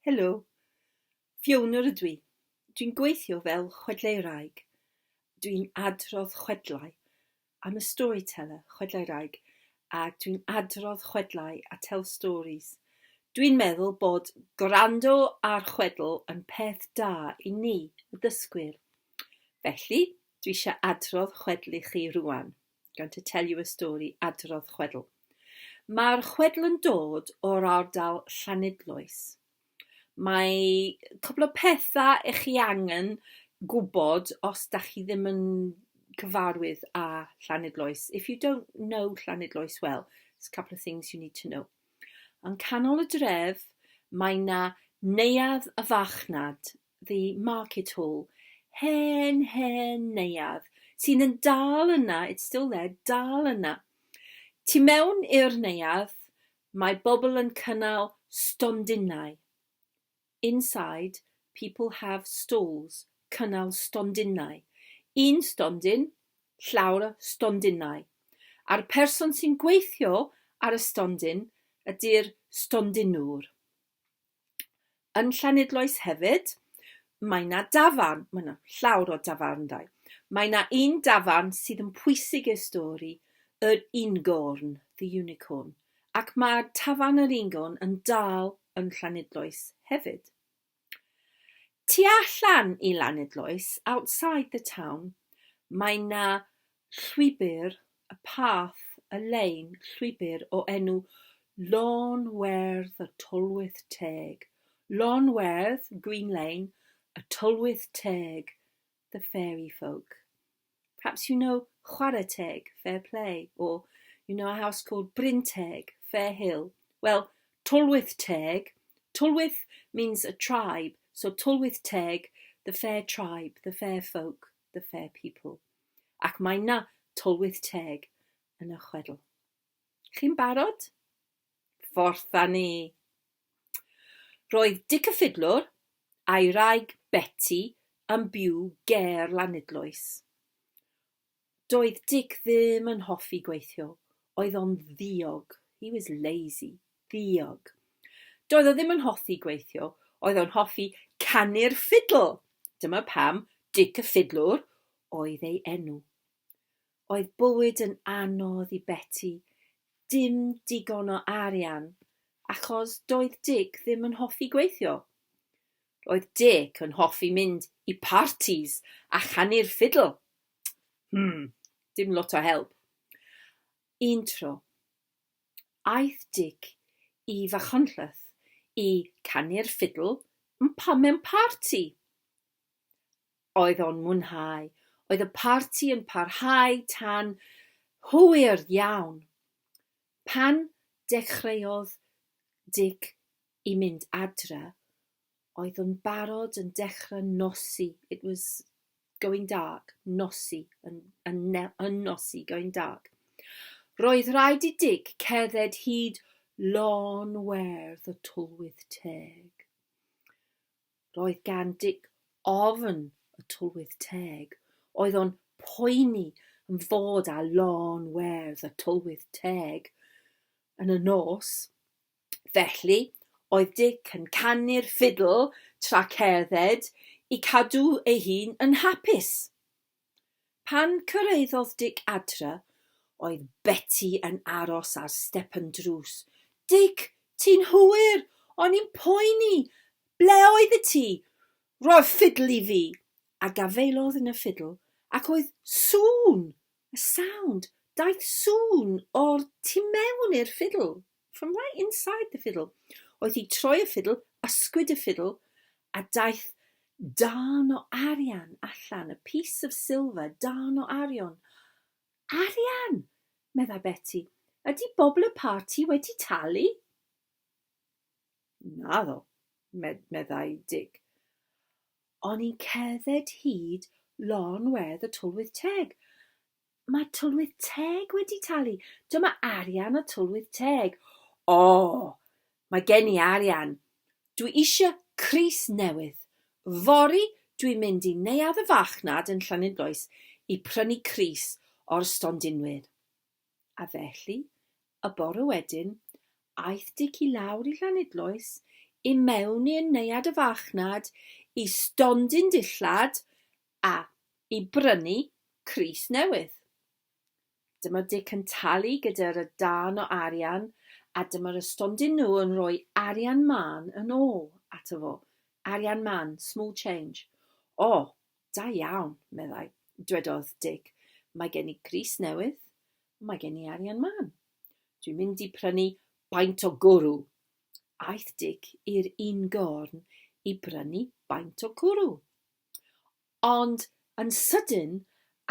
Helo, Fionor ydw i. Dwi'n gweithio fel chwedleiraig. Dwi'n adrodd chwedlau. I'm a storyteller, chwedleiraig, a dwi'n adrodd chwedlau, I tell stories. Dwi'n meddwl bod gwrando ar chwedl yn peth da i ni, y dysgwyr. Felly, dwi eisiau adrodd chwedl i chi rŵan. going to tell you a story, adrodd chwedl. Mae'r chwedl yn dod o'r ardal Llanidloes. Mae cwbl o pethau eich chi angen gwybod os da chi ddim yn cyfarwydd â Llanidloes. If you don't know Llanidloes well, there's a couple of things you need to know. Yn canol y dref, mae na neuadd y fachnad The Market Hall, hen, hen neuadd, sy'n yn dal yna, it's still there, dal yna. Tu mewn i'r neuadd, mae bobl yn cynnal stondinau. Inside, people have stalls, cynnal stondinau. Un stondin, llawr o stondinau. A'r person sy'n gweithio ar y stondin ydy'r stondinwr. Yn Llanidloes hefyd, mae 'na dafarn, mae 'na llawr o dafarndai. Mae 'na un dafarn sydd yn pwysig i'r stori, yr Ungorn, The Unicorn, ac mae tafarn yr Ungorn yn dal yn Llanidloes hefyd. Tu allan i Lanidloes, outside the town, mae 'na Llwybr y Path y Lein Llwybr o enw Lôn Werdd y Tylwyth Teg Lôn Werdd, Green Lane, y Tylwyth Teg, the fairy folk. Perhaps you know Chwarae Teg, fair play, or you know a house called Bryn Teg, fair hill. Well, Tylwyth Teg, Tylwyth means a tribe, so Tylwyth Teg, the fair tribe, the fair folk, the fair people. Ac mae 'na Tylwyth Teg yn y chwedl. Chi'n barod? Fforth â ni! Roedd Dic y Ffidlwr a'i wraig Beti yn byw ger Lanidloes. Doedd Dic ddim yn hoffi gweithio, oedd o'n ddiog, he was lazy. Diog. Doedd o ddim yn hoffi gweithio, oedd o'n hoffi canu'r ffidl, dyma pam Dic y Ffidlwr oedd ei enw. Oedd bywyd yn anodd i Beti, dim digon o arian, achos doedd Dic ddim yn hoffi gweithio. Oedd Dic yn hoffi mynd i partis a chanu'r ffidl. Hmm, dim lot o help. Un tro, Aeth Dic i Fachynlleth i canu'r ffidl yn pam mewn parti. Oedd o'n mwynhau. Oedd y parti yn parhau tan hwyr iawn. Pan dechreuodd Dic i mynd adre, oedd yn barod yn dechra nosi it was going dark nosi yn yn ne- yn nosi going dark roedd rhaid i Dic cerdded hyd lôn werdd y Twlwyth Teg roedd gan Dic ofn y Twlwyth Teg oedd o'n poeni yn fod â lôn werdd y Twlwyth Teg yn y nos Felly, oedd Dic yn canu'r ffidl tra cerdded i cadw ei hun yn hapus. Pan cyrhaeddodd Dic adre, oedd Beti yn aros ar step yn drws. Dic, ti'n hwyr! O'n i'n poeni! Ble oeddet ti? Rho'r ffidl i fi! A gafaelodd yn y ffidl, ac oedd sŵn, y sound, daeth sŵn o'r tu mewn i'r ffidl. From right inside the fiddle. Oedd hi troi y ffidl, ysgwyd y ffidl, a daeth darn o arian allan, a piece of silver, darn o arian. Arian! meddai Beti. Ydy bobl y parti wedi talu? Naddo, meddai Dig. O'n i'n cerdded hyd lôn wedd y Tylwyth Teg, Mae Tylwyth Teg wedi talu. Dyma arian y Tylwyth Teg. O! Mae gen i arian. Dwi eisiau crys newydd. Fory dwi'n mynd i neuadd y farchnad yn Llanidloes i prynu crys o'r stondinwyr. A felly, y bore wedyn, aeth Dic i lawr i Llanidloes, i mewn i'r neuadd y farchnad, i stondin dillad, A. I brynu crys newydd. Dyma Dic yn talu gyda'r y darn o arian a dyma'r y stondin nhw yn rhoi arian mân yn ôl ato fo. Arian mân, small change. O, da iawn, meddai. Dwedodd Dic, Mae gen i grys newydd, mae gen i arian mân. Dwi'n mynd i prynu baint o gwrw. Aeth Dic i'r un gorn i brynu baint o gwrw. Ond yn sydyn,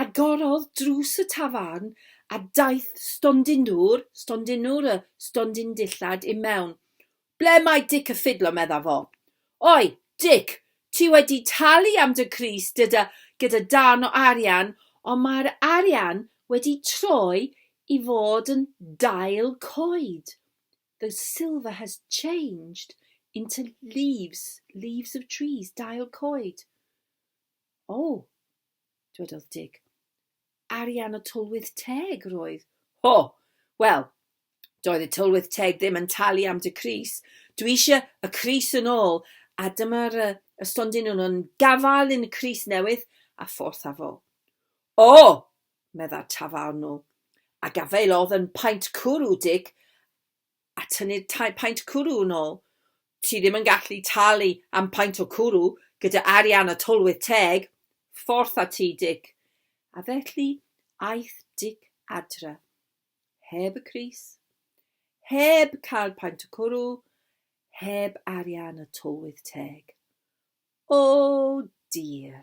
agorodd drws y tafarn a daeth stondin dŵr, stondin dŵr, y stondin dillad, i mewn. Ble mae Dic y Ffidlo? medda fo. Oi, Dic, ti wedi talu am dy crys gyda, gyda darn o arian, ond mae'r arian wedi troi i fod yn dail coed. The silver has changed into leaves, leaves of trees, dail coed. O, oh, dwedodd Dick. Arian o tylwyth teg roedd. Ho, oh, wel, doedd y tylwyth teg ddim yn talu am dy Cris. Dwi eisiau y Cris yn ôl, a dyma'r uh, y stondin nhw'n gafael yn y Cris newydd a fforth afol. O, oh, meddai'r tafarnwr, a gafaelodd yn paent cwrw, Dic, a tynnid tai paent cwrw yn ôl. Ti ddim yn gallu talu am paent o cwrw gyda arian y tylwyth teg. Fforth a ti, Dic. A felly aeth Dic adre. Heb y Cris. Heb cael paent o cwrw. Heb arian y tylwyth teg. O, dir.